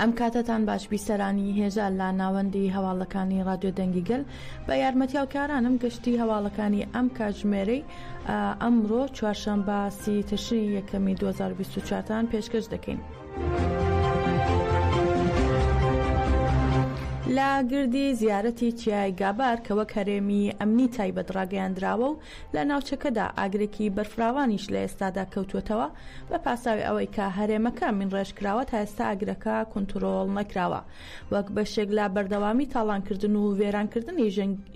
ئەم کاتەتان باش بیسەرانی هێژا لە ناوەندی هەواڵەکانی رادیۆ دەنگی گەل بە یارمەتیاو کارانم گەشتی هەواڵەکانی ئەم کاژمێرەی ئەمڕۆ چوارشەمبە سی تشرین یەکەمی 2024 تان پێشکەش دەکەین. لە گردی زیارەتی چیای گابار کە وەک هەرێمی ئەمنی تایبەت ڕاگەیاندراوە و لە ناوچەکەدا ئاگرێکی بەرفراوانیش لە ئێستادا کەوتووەتەوە، بە پاساوی ئەوەی کە هەرێمەکە مینڕێژکراوە تا ئێستا ئاگرەکە کونتڕۆڵ نەکراوە، وەک بەشێک لە بەردەوامی تاڵانکردن و وێرانکردنی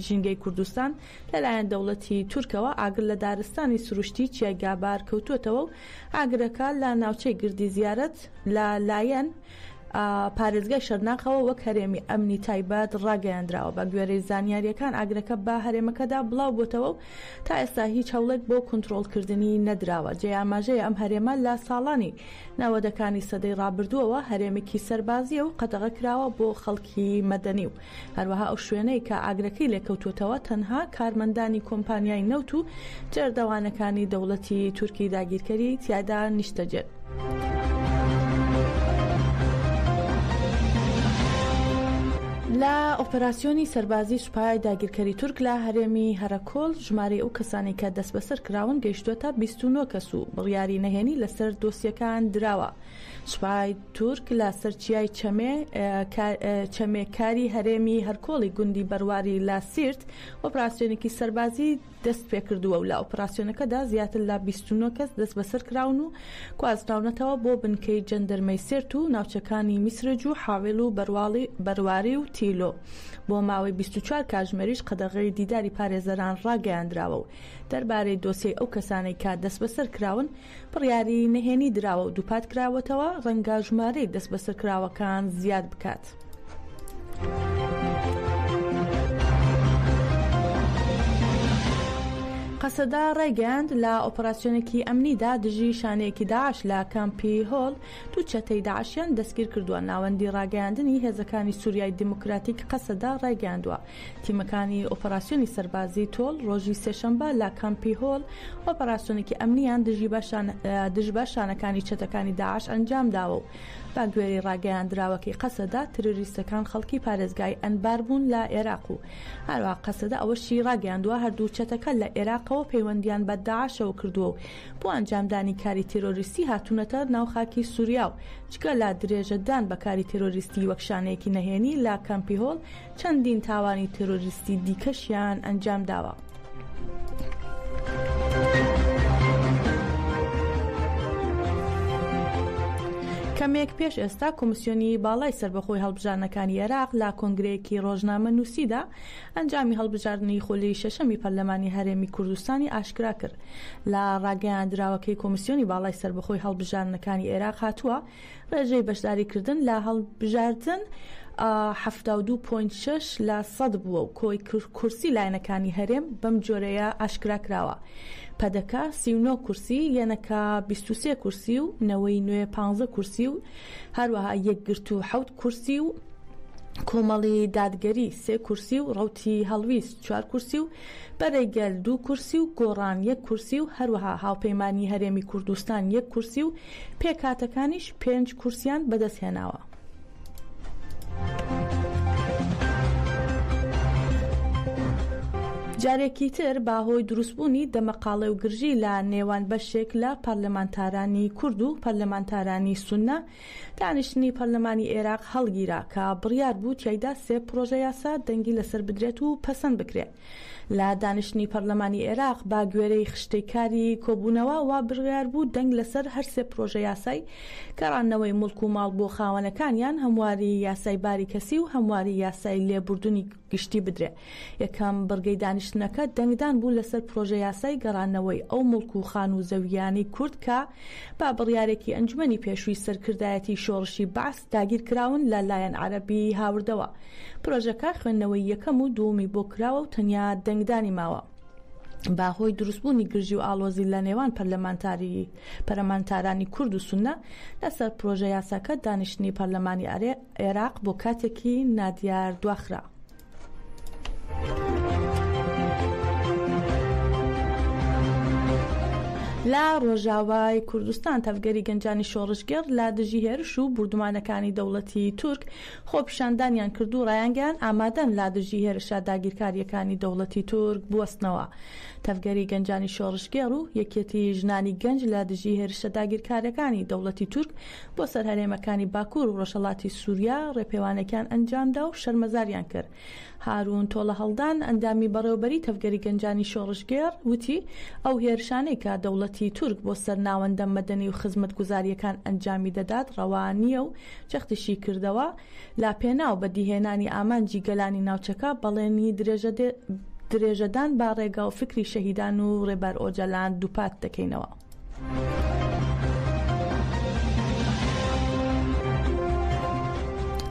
ژینگەی کوردستان لەلایەن دەوڵەتی تورکەوە ئاگر لە دارستانی سروشتی چیای گابار کەوتووەتەوە و ئاگرەکە لە ناوچەی گردی زیارەت لە لایەن پارێزگای شەرناخەوە وەک هەرێمی ئەمنی تایبەت ڕاگەیاندراوە، بەگوێرەی زانیارییەکان ئاگرەکە بە هەرێمەکەدا بڵاوبووتەوە و تا ئێستا هیچ هەوڵێک بۆ کونترۆڵکردنی نەدراوە، جێی ئاماژەیە ئەم هەرێمە لە ساڵانی نەوەدەکانی سەدەی ڕابردووەوە هەرێمێکی سەربازییە و قەدەغەکراوە بۆ خەڵکی مەدەنی و هەروەها ئەو شوێنەی کە ئاگرەکەی لێکەوتووەتەوە تەنها کارمەندانی کۆمپانیای نەوت و جێردەوانەکانی دەوڵەتی تورکی داگیرکەری تیادا نیشتەجێن. لە ئۆپەراسیۆنی سەربازی سوپای داگیرکەری تورک لە هەرێمی هەرەکۆل ژمارەی ئەو کەسانی کە دەست بەسەر کراون گەیشتووەتە 29 کەس و بڕیاری نەهێنی لەسەر دۆسیەکان دراوە سوپای تورک لە سەر چیای چەمێ چەمێ کاری هەرێمی هەرکۆڵی گوندی بەرواری لە سیرت ئۆپراسسیۆنێکی سەربازی دەست پێکردووە و لە ئۆپراسسیۆنەکەدا زیاتر لە 29 کەس دەست بەسەر کراون و کوازراونەتەوە بۆ بنکەی جەندرمەی سرت و ناوچەکانی میسرج و حاوێل و بەرواڵی بەرواری و تیلۆ بۆ ماوەی 24 کاژمێریش قەدەغی دیداری پارێزەران ڕاگەیاندراوە و دەربارەی دۆسیی ئەو کەسانەی کا دەست بەسەر کراون بڕیاری نهێنی دراوە و دووپات کراوەتەوە، ڕەنگە ژمارەی دەستبەسەرکراوەکان زیاد بکات. قەسەدە ڕایگەیاند، لە ئۆپەراسیۆنێکی ئەمنیدا دژی شانەیەکی داعش لە کامپی هۆل دوو چەتەی داعشیان دەستگیر کردووە ناوەندی ڕاگەیاندنی هێزەکانی سووریای دیموکراتیک قەسەدە ڕایگەیاندووە تیمەکانی ئۆپەراسیۆنی سەربازیی تۆڵ ڕۆژی سێشەمبە لە کامپی هۆل ئۆپەراسیۆنێکی ئەمنییان دژی بە شانەکانی چەتەکانی داعش ئەنجامداوە و بەگوێرەی ڕاگەیاندراوەکەی قەسەدە، تیرۆریستەکان خەڵکی پارێزگای ئەنبار بوون لە ئێراق و هەروەها قەسەدە ئەوەشی ڕاگەیاندووە هەردوو چەتەکە لە ئێراقەوە پەیوەندییان بە داعشەوە کردووە و بۆ ئەنجامدانی کاری تیرۆریستی هاتوونەتە ناو خاکی سوریا و جگە لە درێژەدان بە کاری تیرۆریستی وەک شانەیەکی نەهێنی لە کامپی هۆل چەندین تاوانی تێرۆریستی دیکەشیان ئەنجام داوە. کەمێک پێش ئێستا کۆمسیۆنی باڵای سربەخۆی هەڵبژارنەکانی عێراق لە کۆنگرەیەکی ڕۆژنامە نووسیدا ئەنجامی هەڵبژاردنی خۆلی شەشەمی پەرلەمانی هەرێمی کوردستانی ئاشکرا کرد لە ڕاگەیاندراوەکەی کۆمسیۆنی باڵای سربەخۆی هەڵبژارنەکانی عێراق هاتووە ڕێژەی بەشداریکردن لە هەڵبژاردن حەفتا و دوو پۆینت شەش لە سەد بووە و کۆی کورسی لایەنەکانی هەرێم بەم جۆرەیە ئاشکرا کراوە، پەدەکە سی و نۆ کورسی، یەنەکە بیست و سێ کورسی و نەوەی نوێ پازدە کورسی و هەروەها یەکگرتوو حەوت کورسی و کۆمەڵی دادگەری سێ کورسی و ڕەوتی هەڵویست چوار کورسی و بەرەی گەل دوو کورسی و گۆڕان یەک کورسی و هەروەها هاوپەیمانیی هەرێمی کوردستان یەک کورسی و پێکهاتەکانیش پێنج کورسییان بەدەستهێناوە. جارێکی تر بە هۆی دروستبوونی دەمەقاڵێ و گرژی لە نێوان بەشێک لە پەرلەمانتارانی کورد و پەرلەمانتارانی سوننە، دانیشتنی پەرلەمانی ئێراق هەڵگیرا کە بڕیار بوو تیایدا سێ پڕۆژە یاسا دەنگی لەسەر بدرێت و پەسەند بکرێن. لە دانیشتنی پەرلەمانی ئێراق بە گوێرەی خشتەی کاری کۆبوونەوە وا بڕیار بوو دەنگ لەسەر هەر سێ پڕۆژە یاسای گەڕاندنەوەی موڵک و ماڵ بۆ خاوەنەکانیان، هەمواری یاسای باری کەسی و هەمواری یاسای لێبوردنی گشتی بدرێ. یەکەم بڕگەی دانیشتنەکە دەنگدان بوو لەسەر پرۆژەیاسای گەڕانەوەی ئەو مڵک و خانوو و زەوییانەی کورد کە بە بڕیارێکی ئەنجومەنی پێشووی سەرکردایەتیی شۆڕشی بەعس داگیرکراون لە لایەن عەرەبی هاوردەوە. پرۆژەکە خوێندنەوەی یەکەم و دوومی بۆ کراوە و تەنیا دەنگدانی ماوە. بە هۆی دروستبوونی گرژی و ئاڵۆزی لە نێوان پەرلەمانتاری پەرەمانتارانی کورد و سوننە لەسەر پرۆژەیاساکە دانیشتنی پەرلەمانی عێراق بۆ کاتێکی نادیار دواخرا. لە ڕۆژاوای کوردستان تەڤگەری گەنجانی شۆڕشگێڕ لە دژی هێرش و بوردومانەکانی دەوڵەتی تورک خۆپیشاندانیان کرد و ڕایانگەیان ئامادەن لا دژی هێرشە داگیرکاریەکانی دەوڵەتی تورک بوەستنەوە تەڤگەری گەنجانی شۆڕشگێڕ و یەکێتی ژنانی گەنج لە دژی هێرشە داگیرکارەکانی دەوڵەتی تورک بۆ سەر هەرێمەکانی باکوور و ڕۆژهەڵاتی سووریا ڕێپێوانێکیان ئەنجامدا و شەرمەزاریان کرد. هارون تۆڵەهەڵدان، ئەندامی بەڕێوەبەریی تەڤگەری گەنجانی شۆڕشگێڕ، وتی، ئەو هێرشانەی کە دەوڵەتی تورک بۆ سەر ناوەندە مەدەنی و خزمەتگوزارییەکان ئەنجامی دەدات ڕەوا نییە و جەختیشی کردەوە، لە پێناو بەدیهێنانی ئامانجی گەلانی ناوچەکە بەڵێنی درێژەدان بە ڕێگا و فکری شەهیدان و ڕێبەر ئۆجەلان دووپات دەکەینەوە.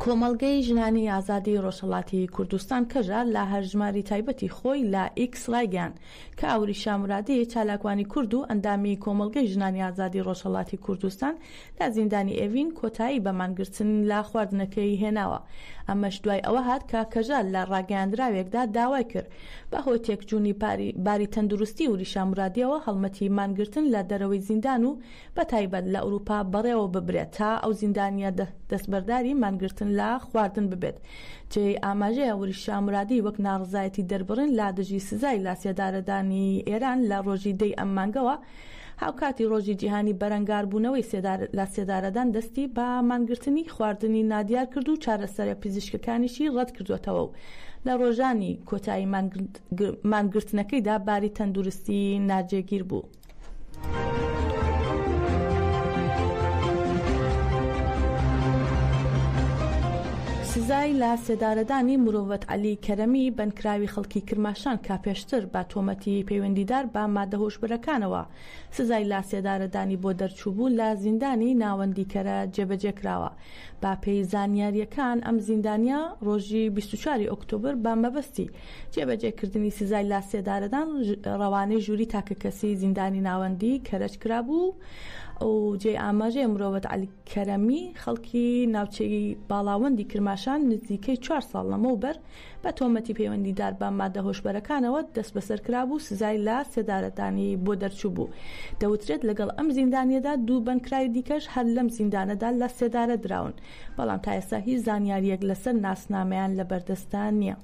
کۆمەڵگەی ژنانی ئازادی ڕۆژهڵاتی کوردستان کەژە لە هەرژماری تایبەتی خۆی لە ئیکس ڕایگەیان کە ئەوری شامرادی چالاکوانی کورد و ئەندامی کۆمەڵگەی ژنانی ئازادی ڕۆژهڵاتی کوردستان لە زیندانی ئێڤین کۆتایی بە مانگرتن لە خواردنەکەی هێناوە، ئەمەش دوای ئەوە هات کە کەژال لە ڕاگەیاندراوێکدا داوای کرد، بەهۆی تێکچوونی باری تەندروستی وریشا مورادییەوە هەڵمەتی مانگرتن لە دەرەوەی زیندان و بەتایبەت لە ئەوروپا بەڕێوە ببرێت تا ئەو زیندانییە دەستبەرداری مانگرتن لە خواردن ببێت جێی ئاماژەیە وریشا مورادی وەک ناڕەزایەتی دەربڕین لە دژی سزای لاسێدارەدانی ئێران لە ڕۆژی دەی ئەم مانگەوە هاوکاتی ڕۆژی جیهانی بەرەنگاربوونەوەی سێدار لە سێدارەدان دەستی بە مانگرتنی خواردنی نادیار کرد و چارەسەرە پزیشکەکانیشی ڕەتکردووەتەوە و لە ڕۆژانی کۆتایی مانگرتنەکەیدا باری تەندروستی ناجێگیر بوو. سزای لە سێدارەدانی مرۆڤەت عەلی کەرەمی بەندکراوی خەڵکی کرماشان کە پێشتر بە تۆمەتی پەیوەندیدار بە مادە هۆشبەرەکانەوە سزای لاسێدارەدانی بۆ دەرچووبوو لە زیندانی ناوەندیکەرە جێبەجێکراوە. بە پێی زانیارییەکان ئەم زیندانییە ڕۆژی بیست و چوار ی ئۆکتۆبر بە مەبەستی جێبەجێکردنی سزای لاسێدارەدان ڕەوانەی ژووری تاکەکەسی زیندانی ناوەندی کەرەج کرابوو و جێی ئاماژەیە مرۆڤەت عەلی کەرەمی خەڵکی ناوچەی باڵاوەندی کرماشان نزیکەی چوار ساڵ لەمەوبەر بە تۆمەتی پەیوەندیدار بە ماددە هۆشبەرەکانەوە دەستبەسەر کرابوو و سزای لە سێدارەدانی بۆ دەرچووبوو. دەوترێت لەگەڵ ئەم زیندانییەدا دوو بەندکراوی دیکەش هەر لەم زیندانەدا لە سێدارە دراون، بەڵام تا ئێستا هیچ زانیارییەک لەسەر ناسنامەیان لە بەردەستدا نییە.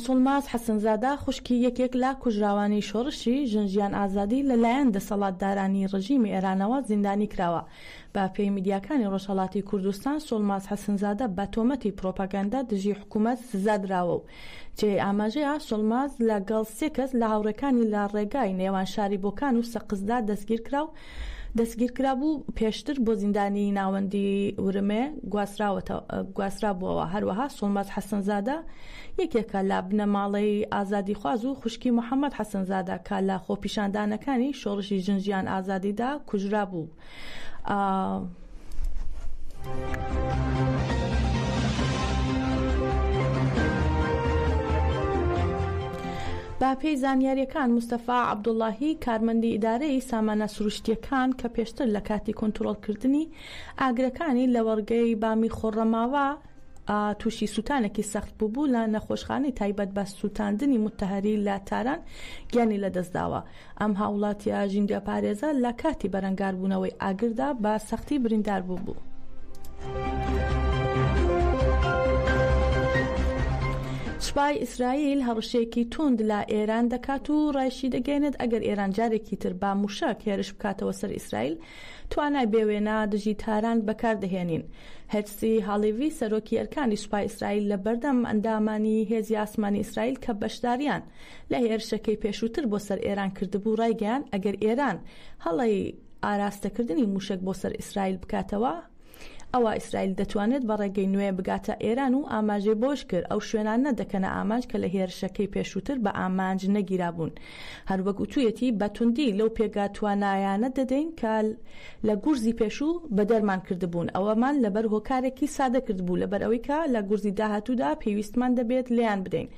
سۆڵماز حەسەنزادە، خوشکی یەکێک لە کوژراوانی شۆڕشی ژن ژیان ئازادی لەلایەن دەسەڵاتدارانی ڕژیمی ئێرانەوە زیندانی کراوە، بە پێی میدیاکانی ڕۆژهەڵاتی کوردستان، سۆڵماز حەسنزادە بە تۆمەتی پرۆپاگەندە دژی حکوومەت سزا دراوە و جێی ئاماژەیە سۆڵماز لەگەڵ سێ کەس لە هاوڕێکانی لە ڕێگای نێوان شاری بۆکان و سەقزدا دەستگیر کرا و دەستگیر کرابوو پێشتر بۆ زیندانی ناوەندی ورمێ گواسترابووەوە، هەروەها سۆڵماز حەسنزادە یەکێکە لە بنەماڵەی ئازادیخواز و خوشکی محەمەد حەسەنزادە کە لە خۆپیشاندانەکانی شۆڕشی ژن ژیان ئازادیدا کوژرابوو. بەپێی زانیارییەکان، مستەفا عەبدوڵڵاهی کارمەندی ئیدارەی سامانە سروشتییەکان کە پێشتر لە کاتی کونتڕۆڵکردنی ئاگرەکانی لەوەڕگەی بامی خۆڕەماوا تووشی سووتانێکی سەخت بووبوو لە نەخۆشخانەی تایبەت بە سووتاندنی موتەهەری لە تاران گیانی لەدەستداوە. ئەم هاوڵاتییە ژینگەپارێزە لە کاتی بەرەنگاربوونەوەی ئاگردا بە سەختی بریندار بووبوو. سوپای ئیسرائیل هەڕەشەیەکی توند لە ئێران دەکات و ڕایشیدەگەیەنێت ئەگەر ئێران جارێکی تر بە مووشەک هێرش بکاتەوە سەر ئیسرائیل توانای بێ وێنا دژی تاران بەکار دەهێنین. هێرتسی هالیڤی سەرۆکی ئەرکانی سوپای ئیسرائیل لە بەردەم ئەندامانی هێزی ئاسمانی ئیسرائیل کە بەشداریان لە هێرشەکەی پێشووتر بۆ سەر ئێران کردبوو ڕایگەیاند ئەگەر ئێران هەڵەی ئاراستەکردنی مووشەک بۆ سەر ئیسرائیل بکاتەوە، ئەوا ئیسرائیل دەتوانێت بە ڕێگەی نوێ بگاتە ئێران و ئاماژەی بەوەش کرد، ئەو شوێنانە دەکەنە ئامانج کە لە هێرشەکەی پێشووتر بە ئامانج نەگیرابوون. هەروەک وتوویەتی، بە توندی لەو پێگە توانایانە دەدەین کە لە گورزی پێشوو بەدەرمان کردبوون، ئەوەمان لەبەر هۆکارێکی سادە کردبوو، لەبەر ئەوەی کە لە گورزی داهاتوودا پێویستمان دەبێت لێیان بدەین.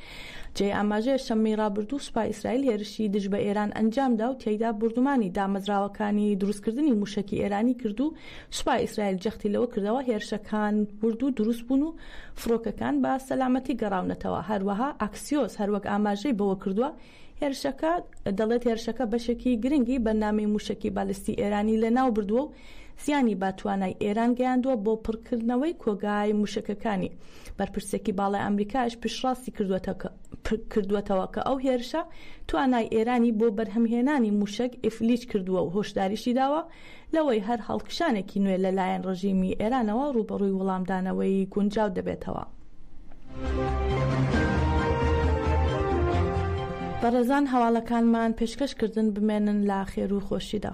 جێی ئاماژەیە شەممەی ڕابردوو سوپای ئیسرائیل هێرشی دژ بە ئێران ئەنجامدا و تیایدا بۆردومانی دامەزراوەکانی دروستکردنی مووشەکی ئێرانی کرد و سوپای ئیسرائیل جەختی لەوە کردەوە، هێرشەکان ورد و دروست بوون و فڕۆکەکان بە سەلامەتی گەڕاونەتەوە، هەروەها ئاکسیۆس هەروەک ئاماژەی بەوە کردووە، هێرشەکە دەڵێت هێرشەکە بەشێکی گرنگی بەرنامەی مووشەکی بالیستی ئێرانی لەناو بردووە و زیانی بە توانای ئێران گەیاندووە بۆ پڕکردنەوەی کۆگای مووشەکەکانی. بەرپرسێکی باڵای ئامریکاش پشتڕاستی کردووەتەوە کە ئەو هێرشە توانای ئێرانی بۆ بەرهەمهێنانی مووشەک ئیفلیج کردووە و هۆشداریشی داوە، لەوەی هەر هەڵکشانێکی نوێ لە لایەن ڕژیمی ئێرانەوە ڕووبەڕووی وڵامدانەوەی گونجاو دەبێتەوە. بەڕێزان هەواڵەکانمان پێشکەش کردن بمێنن لە خێر و خۆشیدا.